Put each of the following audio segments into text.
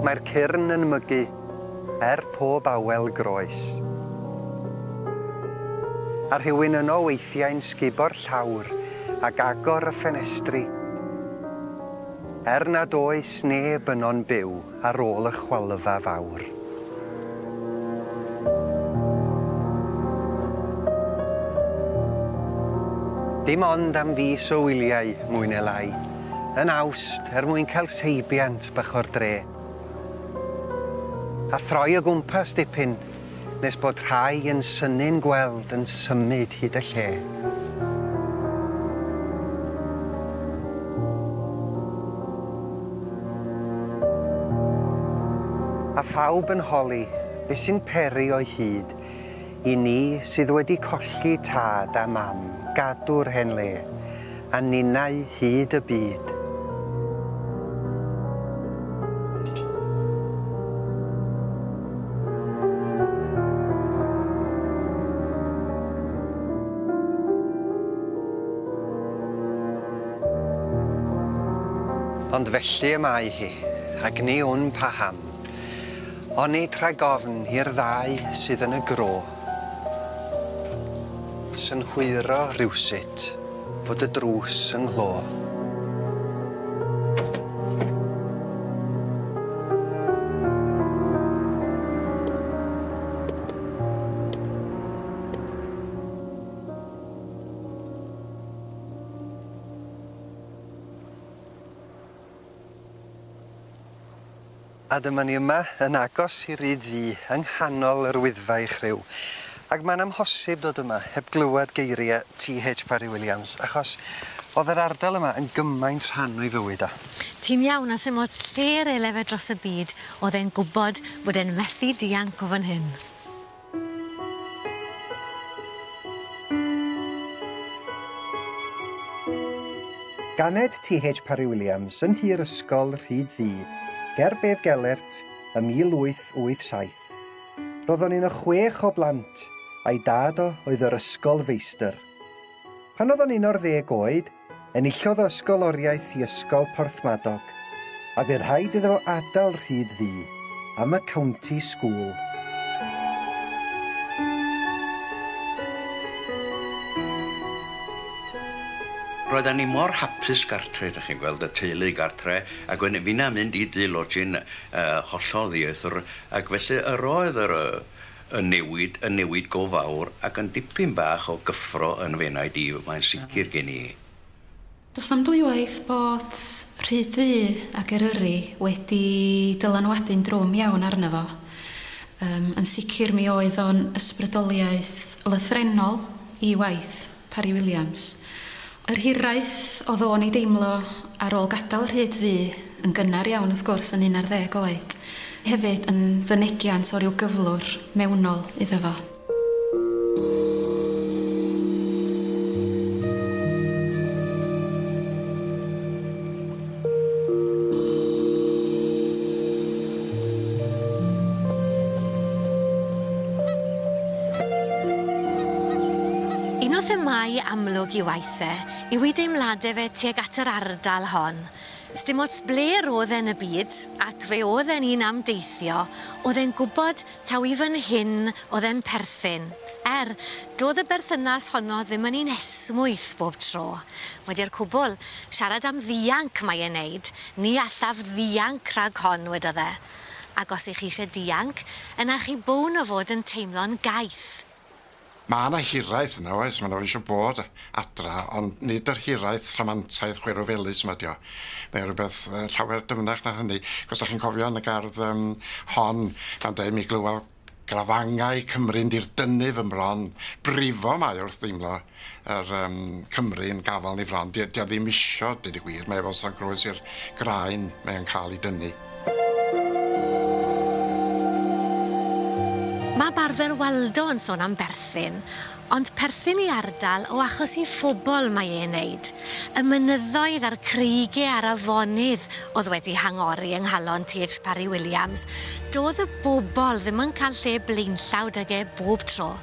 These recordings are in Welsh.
Mae'r cyrn yn mygu er pob awel groes. A rhywun yno weithiau'n sgubo'r llawr ac agor y ffenestri, er nad oes neb yno'n byw. ar ôl y chwalfa fawr. Dim ond am fis o wyliau, mwy neu lai, yn Awst er mwyn cael seibiant bach o'r dre. A throi o gwmpas dipyn. nes bod rhai yn synnu'n gweld yn symud hyd y lle. A phawb yn holi be sy'n peri o'i hyd i ni sydd wedi colli tad a mam, gadw'r hen le. a ninnau hyd y byd. Ond felly y mae hi, ac ni wn paham. Onid rhag ofn i'r ddau sydd yn y gro. Synhwyro rywsut fod y drws yng nghlöf. A dyma ni yma, yn agos i Ryd Ddu, yng nghanol yr Wyddfa i chriw. Ac mae'n amhosib dod yma heb glywed geiriau TH Parry Williams, achos oedd yr ardal yma yn gymaint rhan o'i fywyd o. Ti'n iawn, a sdim ots lle ar ei lefed dros y byd, oedd e'n gwybod bod e'n methu dianc o fan hyn. Ganed TH Parry Williams yn nhŷ'r ysgol Rhyd Ddu, ger Bedd Gelert, ym 1887. Roeddwn un o chwech o blant, a'i dad o oedd yr ysgolfeistr. Pan oedd o'n un o'r ddeg oed, Enillodd o ysgoloriaeth i Ysgol Porthmadog, a bu rhaid iddo fo adael Rhyd Ddu am y County School. Roeddan ni mor hapus gartre, dych chi'n gweld, y teulu gartre, ac wedyn finna'n mynd i dŷ lodging yy hollol ddieithr, ac felly yr oedd yr yy y newid yn newid go fawr ac yn dipyn bach o gyffro yn fy enaid i, mae'n sicr gen i. Does na'm dwywaith bod Rhyd Ddu ac Eryri wedi dylanwadu'n drwm iawn arno fo. Yym, yn sicr mi oedd o'n ysbrydoliaeth lythrennol i waith. Parry Williams. Yr hiraeth oedd o'n ei deimlo ar ôl gadael Rhyd fu yn gynnar iawn wrth gwrs yn un ar ddeg oed, hefyd yn fynegiant o ryw gyflwr mewnol iddo fo. Un o themâu amlwg i waith e yw ei deimladau fe tuag at yr ardal hon. Sdim ots ble roedd e yn y byd, ac fe oedd e'n un am deithio, oedd e'n gwybod Taw i fan hyn oedd e'n perthyn. Er, doedd y berthynas honno ddim yn un esmwyth bob tro. Wedi'r cwbl, siarad am ddianc mae e'n neud, ni allaf ddianc rhag hon, wedodd e. Ac os 'y chi eisiau dianc, yna chi bown o fod yn teimlo'n gaeth. Ma' 'na hiraeth yna oes ma' 'na fo isio bod adra ond nid yr hiraeth rhamantaidd chwerw felys 'ma 'di o. Mae o rwbeth yy llawer dyfnach na hynny 'c'os 'dach chi'n cofio yn y gardd yym hon pan deu' mi glywa grafangai Cymru'n dirdynnu fy mron brifo mae o wrth deimlo yr yym Cymru yn gafal ni fron 'di o 'di o ddim isio deud y gwir mae o fel sa'n groes i'r graen mae o'n ca'l 'i dynnu. Mae Barddel Waldo yn sôn am berthyn, ond perthyn i ardal o achos i phobl mae e'n neud. Y mynyddoedd a'r creigie a'r afonydd oedd wedi hangori yng nghalon TH Parry Williams, doedd y bobl ddim yn cael lle blaenllaw 'da ge bob tro.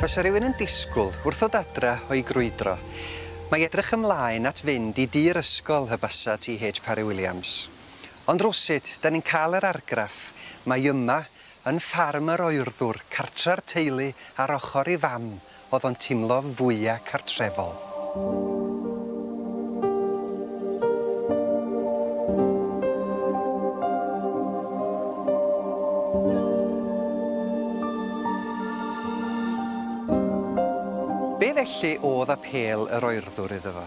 Fysa rhywun yn disgwyl wrthod adra o'i grwydro. Mae edrych ymlaen at fynd i dŷ'r ysgol hy basa TH Parry Williams. Ond rywsut, dan ni'n cael yr argraff mai yma, yn ffarm yr oerddwr, cartra'r teulu ar ochr ei fam, oedd o'n timlo fwya' cartrefol. Be felly oedd apêl yr oerddwr iddo fo?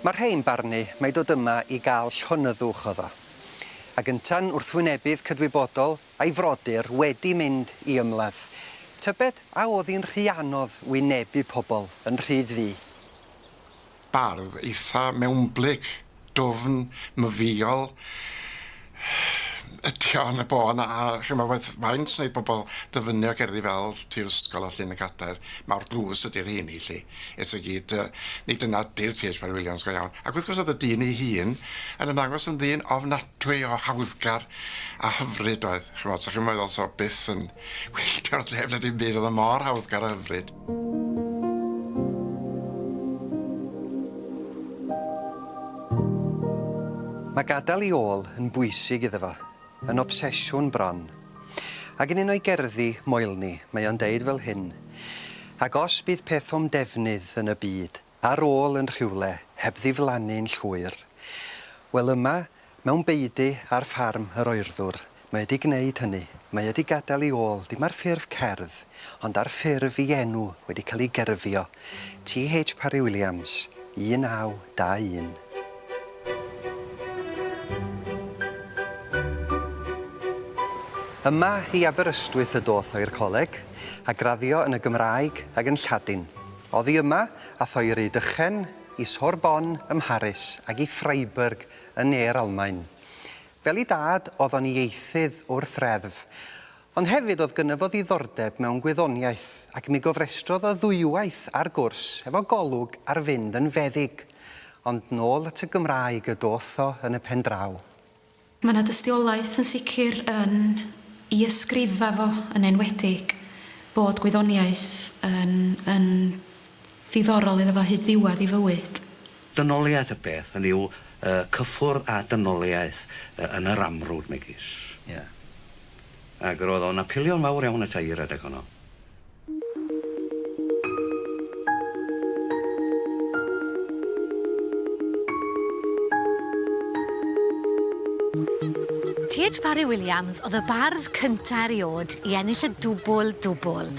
Mae rhei'n barnu mai dod yma i gael llonyddwch oedd o. A gynta'n wrthwynebydd cydwybodol, a'i frodyr wedi mynd i ymladd. Tybed a oedd hi'n rhy anodd wynebu pobl yn rhydd fu? Bardd eitha mewnblyg, dwfn, myfywiol ydy o yn y bôn a ch'mod faint wneith pobl ddyfynnu o gerddi fel Tir Ysgol a Llun y Cadair, mawr dlws ydy'r rheiny 'lly. Eto i gyd yy nid dyna 'di'r TH Parry Williams go iawn. Ac wrth gwrs oedd y dyn ei hun yn ymddangos yn ddyn ofnadwy. Trio hawddgar a hyfryd oedd, ch'mod, so chi'n meddwl so byth yn wylltio neb na dim byd, o'dd o mor hawddgar a hyfryd. Mae gadael i ôl yn bwysig iddo fo, yn obsesiwn bron. Ac yn un o'i gerddi, Moelni, mae o'n deud fel hyn, Ac os bydd peth o'm defnydd yn y byd, ar ôl yn rhywle heb ddiflannu'n llwyr. Wel yma, mewn beudy ar ffarm yr oerddwr, mae e 'di gneud hynny. Mae e 'di gadael i ôl, dim ar ffurf cerdd, ond ar ffurf i enw wedi cael ei gerfio, TH Parry Williams, 1921. Yma i Aberystwyth y doth o i'r coleg, a graddio yn y Gymraeg ag yn Lladin. Oddi yma, a thoeri dychen i Sorbonne ym Mharis ag i Freiburg yn ne'r Almaen. Fel i dad, o'dd o'n ieithydd wrth reddf. Ond hefyd o'dd gynno fo ddiddordeb mewn gwyddoniaeth, ac mi gofrestrodd o ddwywaith ar gwrs efo golwg ar fynd yn feddyg. Ond nôl at y Gymraeg y do'th o yn y pen draw. Mae 'na dystiolaeth yn sicr yn i ysgrifa fo yn enwedig bod gwyddoniaeth yn yn ddiddorol iddo fo hyd ddiwedd ei fywyd. Dynoliaeth y peth, hynny yw, y cyffwrdd â dynoliaeth yn yr amrwd megis. Ie. Ac roedd o'n apelio'n fawr iawn ata i redeg honno. TH Parry Williams oedd y bardd cynta eriod i ennill y dwbwl dwbwl,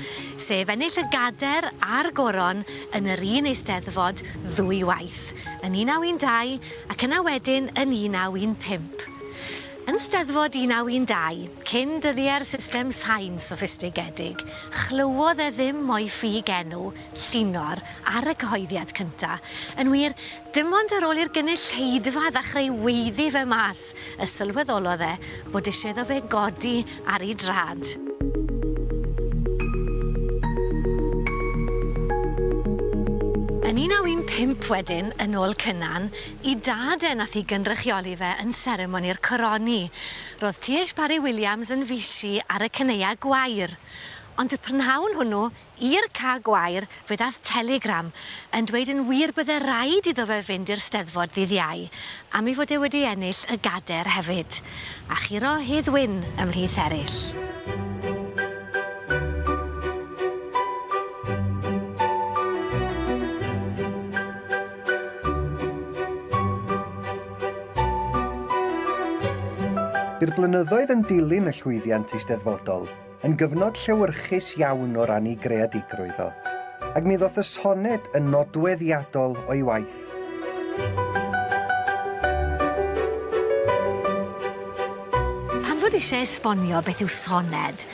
sef ennill y gader a'r goron yn yr un Eisteddfod ddwy waith, yn 1912 ac yna wedyn yn 1915. Yn Steddfod 1912, cyn dyddie'r system sain soffistigedig, chlywodd e ddim mo'i ffug enw, Llinor, ar y cyhoeddiad cynta'. Yn wir, dim ond ar ôl i'r gynulleidfa ddechreu weiddi fe mas y sylweddolodd e bod isie iddo fe godi ar 'i drad. Yn 1915 wedyn, yn ôl Cynan, I dad e nath hi gynrychioli fe yn seremoni'r coroni. Ro'dd Tiege Parry-Williams yn fishi ar y caneuau gwair. Ond y prynhawn hwnnw, i'r cae gwair, fe ddath teligram yn dweud yn wir bydde raid iddo fe fynd i'r Steddfod ddydd Iau, am ei fod e wedi ennill y gader hefyd. A churo Hedd Wyn ymhlith eryll. Bu'r blynyddoedd yn dilyn y llwyddiant eisteddfodol yn gyfnod llewyrchus iawn o ran ei greadigrwydd o, ac mi ddoth y soned yn nodweddiadol o'i waith. Pan fod eisiau esbonio beth yw soned,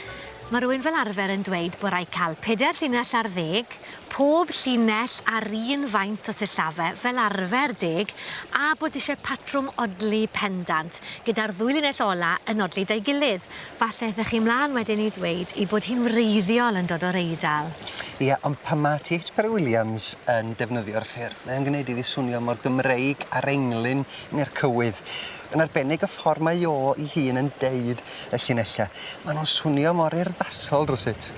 mae rhywun fel arfer yn dweud bod rhaid cael pedair llinell ar ddeg Pob llinell a'r un faint o sillafe, fel arfer, deg, a bod eisiau patrwm odli pendant, gyda'r ddwy linell ola' yn odli 'da'i gilydd. Falle aethoch chi 'mlaen wedyn i ddweud ei bod hi'n wreiddiol yn dod o'r Eidal. Ia, ond pan ma' TH Parry Williams yn defnyddio'r ffurf, mae o'n gwneud iddi swnio mor Gymreig â'r englyn neu'r cywydd. Yn arbennig y ffordd mae o ei hun yn deud y llinellau. Maen nhw'n swnio mor urddasol rywsut.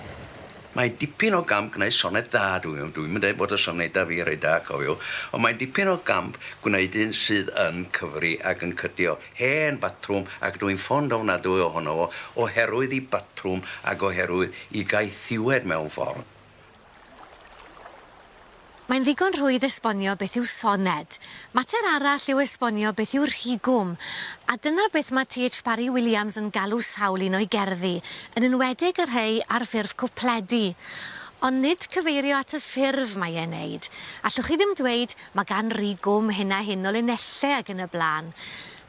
Mae dipyn o gamp gwneud soned dda, dw i ddim yn dweud bod y sonedau fi reit da, cofiwch, ond mae dipyn o gamp gwneud un sydd yn cyfri ac yn cydio. Hen batrwm, ac dw i'n ffond ofnadwy ohono fo, oherwydd i batrwm ac oherwydd i gaethiwed mewn ffordd. Mae'n ddigon rhwydd esbonio beth yw soned. Mater arall yw esbonio beth yw rhigwm. A dyna beth mae TH Parry Williams yn galw sawl un o'i gerddi, yn enwedig y rhei ar ffurf cwpledi. Ond nid cyfeirio at y ffurf mae e'n neud. Allwch chi ddim dweud, mae gan rhigwm hyn a hyn o linellau ag yn y blaen.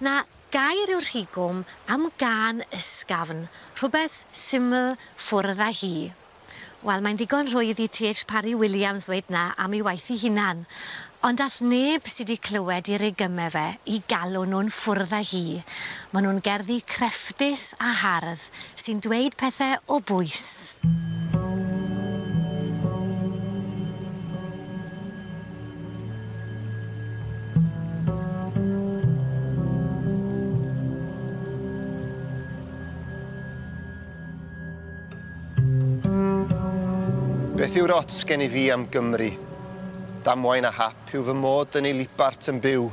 Na, gair yw rhigwm am gân ysgafn, rhywbeth syml, ffwrdd â hi. Wel, mae'n ddigon rhwydd i TH Parry Williams ddweud 'na am ei waith ei hunan. Ond all neb sy 'di clywed i reygymau fe 'i galw nhw'n ffwrdd â hi. Maen nhw'n gerddi crefftus a hardd sy'n dweud pethau o bwys. Beth yw'r ots gen i fi am Gymru? Damwain a hap yw fy mod yn ei libart yn byw.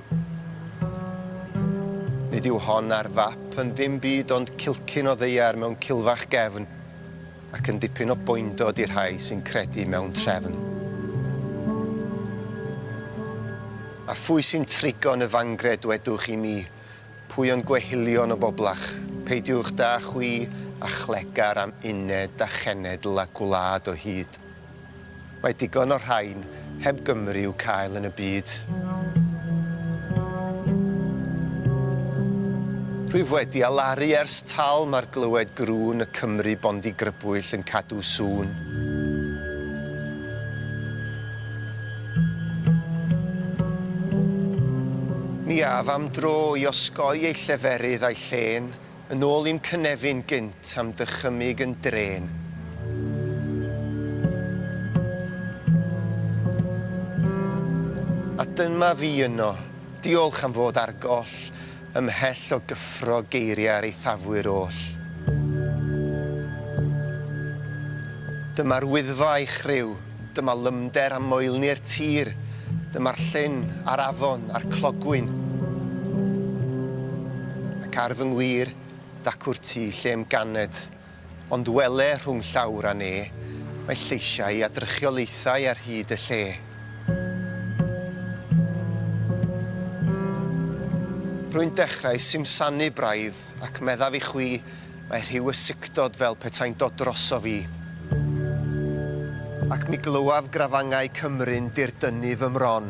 Nid yw hon ar fap yn ddim byd ond cilcyn o ddeiar mewn cilfach gefn, ac yn dipyn o boendod i'r rhai sy'n credu mewn trefn. A phwy sy'n trigo yn y fangre dwedwch i mi, Pwy ond gwehylion o boblach, peidiwch da chwi a chlegar am uned a chenedl a gwlad o hyd. Mae digon o rhain heb Gymru i'w cael yn y byd. Rwyf wedi alaru ers talm ar glywed grŵn y Cymry bondi grybwyll yn cadw sŵn. Mi af am dro i osgoi ei lleferydd a'i llên, yn ôl i'm cynefin gynt am dychymyg yn drên. A dyma fi yno. Diolch am fod ar goll. Ymhell o gyffro geiriau'r eithafwyr oll. Dyma'r Wyddfa a'i chriw, dyma lymder a moelni'r tir, dyma'r llyn, a'r afon, a'r clogwyn. Ac ar fy ngwir, dacw'r tŷ lle'm ganed, Ond wele rhwng llawr a ne, mae lleisiau a drychiolaethau ar hyd y lle. Rwy'n dechrau simsanu braidd ac meddaf i chwi, mae rhyw ysycdod fel petai'n dod drosof i. Ac mi glywaf grafangau Cymru'n dirdynnu fy mron,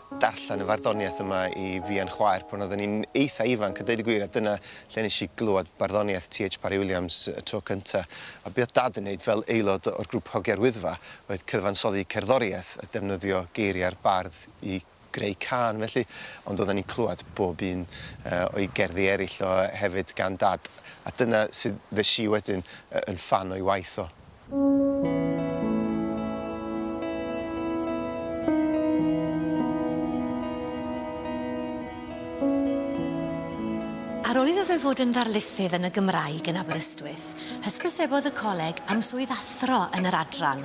darllen y farddoniaeth yma i fi a'n chwaer pan oedden ni'n eitha ifanc a deud y gwir a dyna lle nes i glywed barddoniaeth TH Parry Williams y tro cynta a be oedd Dad yn neud fel aelod o'r grŵp Hogia'r Wyddfa oedd cyfansoddi cerddoriaeth a defnyddio geiriau'r bardd i greu cân felly ond oedden ni'n clywed bob un yy o'i gerddi eryll o hefyd gan Dad a dyna sud fesh i wedyn yy yn ffan o'i waith o. Ar ôl iddo fe fod yn ddarlithydd yn y Gymraeg yn Aberystwyth, hysbysebodd y coleg am swydd athro yn yr adran.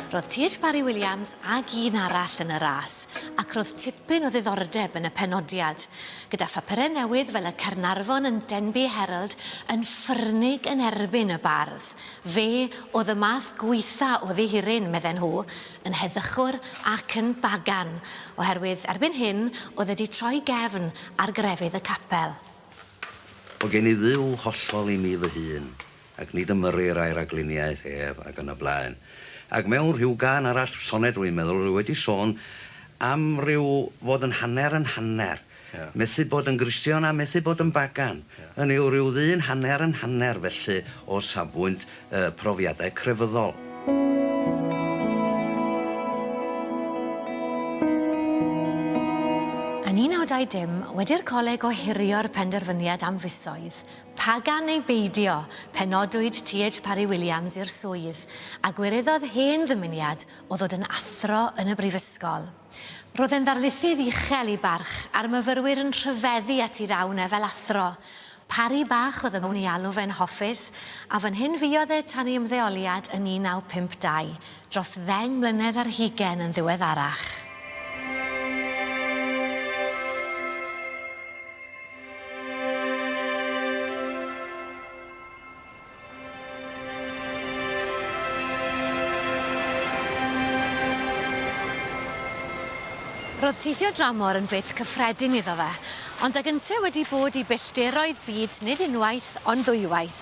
Roedd TH Parry Williams ag un arall yn y ras, ac roedd tipyn o ddiddordeb yn y penodiad. Gyda phapurau newydd fel y Caernarfon and Denbigh Herald yn ffyrnig yn erbyn y bardd, Fe oedd y math gwaetha o ddihiryn, medden nhw, yn heddychwr ac yn bagan, oherwydd erbyn hyn oedd wedi troi gefn ar grefydd y capel. Mae gen i Dduw hollol i mi fy hun, ac nid ymyrir a'i ragluniaeth ef, ac yn y blaen. Ac mewn rhyw gân arall, soned rwy'n meddwl, rwy wedi sôn am ryw fod yn hanner yn hanner. Methu bod yn Gristion a methu bod yn bagan, hynny yw rhyw ddyn hanner yn hanner felly o safbwynt y profiadau crefyddol. Yn 1920, wedi'r Coleg ohirio'r penderfyniad am fisoedd, pagan neu beidio, penodwyd TH Parry Williams i'r swydd, a gwireddodd hen ddymuniad o ddod yn athro yn y Brifysgol. Roedd e'n ddarlithydd uchel i barch, a'r myfyrwyr yn rhyfeddu ati ddawn e fel athro. Pari bach oedd ymwn i alw fe'n hoffus, a fan hyn fuodd e tan ei ymddeoliad yn 1952, dros ddeng mlynedd ar hugain yn ddiweddarach. Roedd teithio dramor yn beth cyffredin iddo fe, ond ag ynteu wedi bod i bellderoedd byd nid unwaith ond ddwywaith,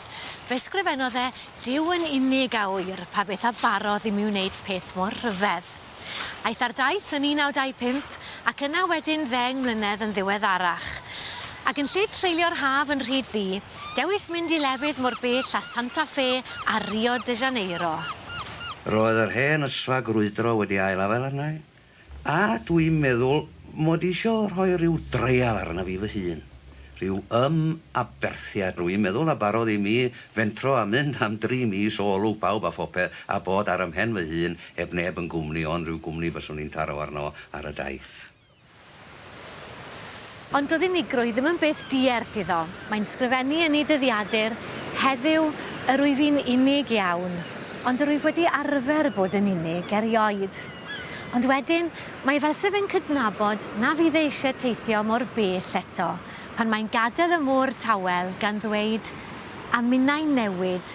fe sgrifennodd e Duw yn unig a ŵyr pa beth a barodd i mi wneud peth mor rhyfedd. Aeth ar daith yn 1925 ac yna wedyn ddeng mlynedd yn ddiweddarach. Ac yn lle treulio'r haf yn Rhyd Ddu, dewis mynd i lefydd mor bell â Santa Fe a Rio de Janeiro. Roedd yr hen ysfa grwydro wedi ail-afael arna'i, a dwi'n meddwl mod i isio rhoi rhyw dreial arna fi fy hun. Rhyw ymaberthiad, dw i'n meddwl, a barodd i mi fentro a mynd am dri mis o olwg pawb a phopeth a bod ar 'y mhen fy hun Heb neb yn gwmni, ond rhyw gwmni fyswn i'n taro arno ar y daith. Ond doedd unigrwydd ddim yn beth dierth iddo. Mae'n sgrifennu yn ei dyddiadur, Heddiw, yr wyf i'n unig iawn, ond yr wyf wedi arfer bod yn unig erioed. Ond wedyn, mae fel se fe'n cydnabod na fydd e eisiau teithio mor bell eto, pan mae'n gadael y môr tawel, gan ddweud, A minnau'n newid,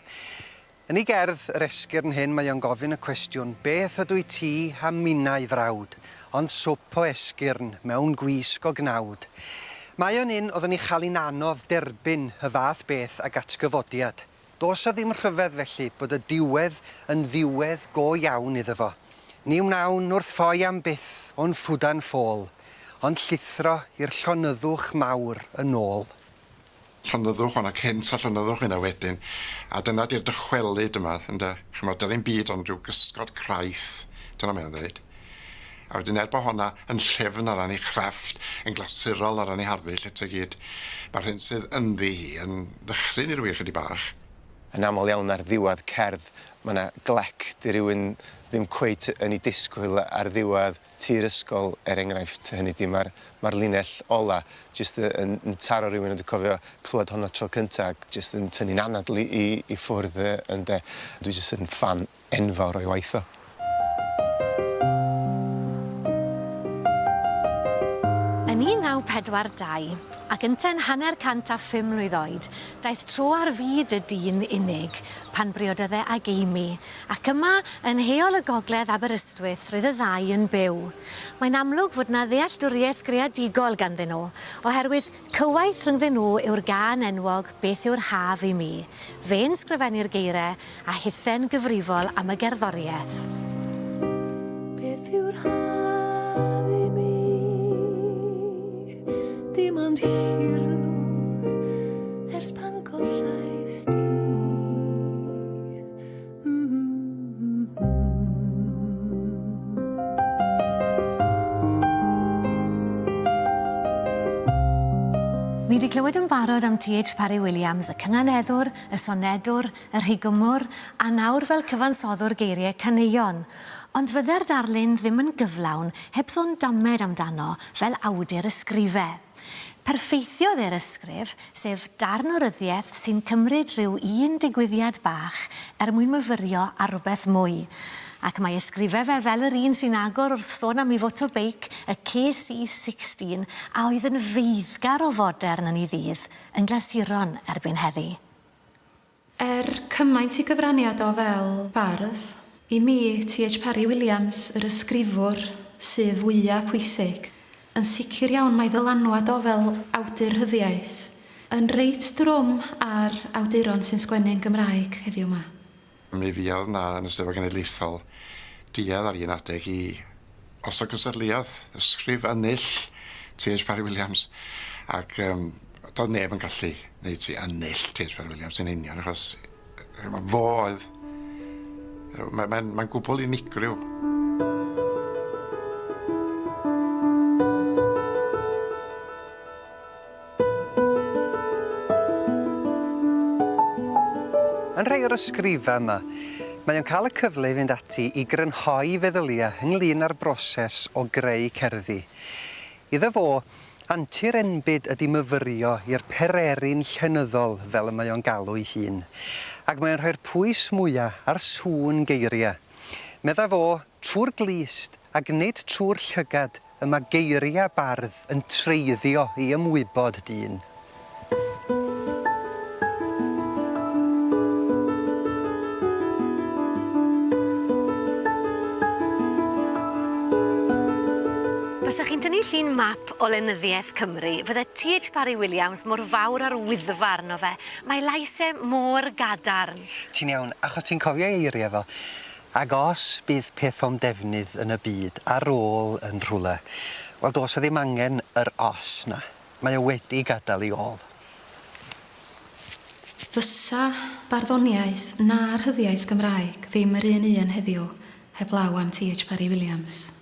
Yn ei gerdd, Yr Esgyrn Hŷn mae o'n gofyn y cwestiwn, Beth ydw i ti a minnau frawd, ond swp o esgyrn mewn gwisg o gnawd? Mae o'n un oeddwn i'n chael hi'n anodd derbyn y fath beth ag atgyfodiad. Does 'na ddim rhyfedd felly bod y diwedd yn ddiwedd go iawn iddo fo. Ni wnawn wrth ffoi am byth o'n ffwdan ffôl, ond llithro i'r llonyddwch mawr yn ôl. llonyddwch hwn ac hynt a llonyddwch hynna wedyn a dyna di'r dychwelyd yma ynde ch'mod dy'r un byd ond rhyw gysgod craith dyna mae o'n ddeud a wedyn er bo honna yn llyfn o ran ei chrefft yn glasurol o ran ei harddull eto i gyd ma'r hyn sydd ynddi hi yn ddychryn i ryw un chydig bach. Yn aml iawn ar ddiwadd cerdd ma' 'na glec 'di rywun ddim cweit yn 'i disgwyl ar ddiwadd. Tir ysgol er enghraifft hynny di, ma'r ma'r linell ola jyst y- yn yn taro rywun a dwi cofio clywed honno tro cynta ac jyst yn tynnu'n anadl i i i ffwrdd y- ynde. Dwi jyst yn ffan enfawr o'i waith o. Yn 1942, ac yntau'n hanner cant a phum mlwydd oed, daeth tro ar fyd y dyn unig pan briodydde ag Amy, Ac yma, yn heol y gogledd Aberystwyth, roedd y ddau yn byw. Mae'n amlwg fod 'na ddealltwriaeth greadigol ganddyn nhw, oherwydd cywaith rhyngddyn nhw yw'r gân enwog 'Beth yw'r Haf i Mi'. Fe'n sgrifennu'r geiriau, a hithe'n gyfrifol am y gerddoriaeth. Beth yw'r haf i mi? Dim ond hirlwm ers pan gollais di. Ni wedi clywed yn barod am TH Parry Williams, y cynganeddwr, y sonedwr, y rhigymwr, a nawr fel cyfansoddwr geiriau caneuon. Ond fydde'r darlun ddim yn gyflawn heb sôn damed amdano fel awdur ysgrife. Perffeithiodd e'r ysgrif, sef darn o ryddiaith sy'n cymryd rhyw un digwyddiad bach er mwyn myfyrio ar rywbeth mwy. Ac mae ysgrifau fe fel yr un sy'n agor wrth sôn am ei fotobeic, y KC16, a oedd yn feiddgar o fodern yn ei ddydd, yn glasuron erbyn heddi. Er cymaint i gyfraniad o fel bardd, i mi, TH Parry Williams, yr ysgrifwr sydd fwya' pwysig. Yn sicr iawn mae ddylanwad o fel awdur rhyddiaith yn reit drwm ar awduron sy'n sgwennu yn Gymraeg heddiw 'ma. Mi fuodd 'na, yn y Steddfod Genedlaethol, duedd ar un adeg i Os o gystadleuodd ysgrif Ennill T H Parry Williams ac yym do'dd neb yn gallu neud ti Ennill T H Parry Williams yn union achos yy yy fo oedd yy ma' mae'n mae'n gwbwl unigryw. Yn rhai o'r ysgrifau yma, mae o'n cael y cyfle i fynd ati i grynhoi feddyliau ynglŷn â'r broses o greu cerddi. Iddo fo, antur enbyd ydi myfyrio i'r pererin llenyddol fel y mae o'n galw'i hun, ac mae o'n rhoi'r pwys mwya' ar sŵn geiriau. Medda fo, trwy'r glust, ac nid trwy'r llygad, Y mae geiriau bardd yn treiddio i ymwybod dyn. Fysa chi'n tynnu llun map o lenyddiaeth Cymru, fydde TH Parry Williams mor fawr â'r Wyddfa arno fe. Mae lais e mor gadarn. Ti'n iawn, achos ti'n cofio ei eiriau fo. Ac os bydd peth o'm defnydd yn y byd ar ôl yn rhywle, wel does 'na ddim angen yr 'os' 'na, mae o wedi gadael ei ôl. Fysa barddoniaeth na rhyddiaith Gymraeg ddim yr un un heddiw heblaw am TH Parry Williams.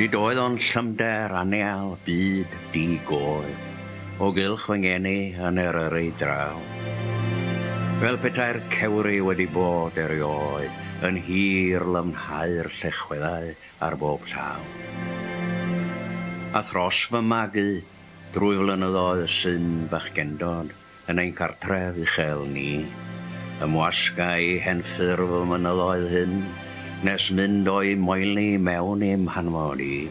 Nid oedd ond llymder aneal byd di goel o gylch fy ngeni yn Eryri draw. Fel petai'r cewri wedi bod erioed yn hir lymhau'r llechweddau ar bob llaw. A thros fy magu drwy flynyddoedd syn bachgendod, Yn ein cartref uchel ni, ymwasga i henffurf y mynyddoedd hyn, nes mynd o'i moeli mewn i'm hanfod i.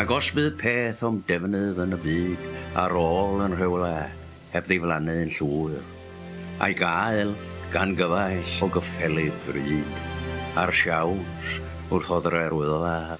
Ac os bydd peth o'm defnydd yn y byd ar ôl yn rhywle heb ddiflannu'n llwyr, a'i gael gan gyfaill o gyffelyb fryd, a'r siawns wrth oddre'r wyddfa,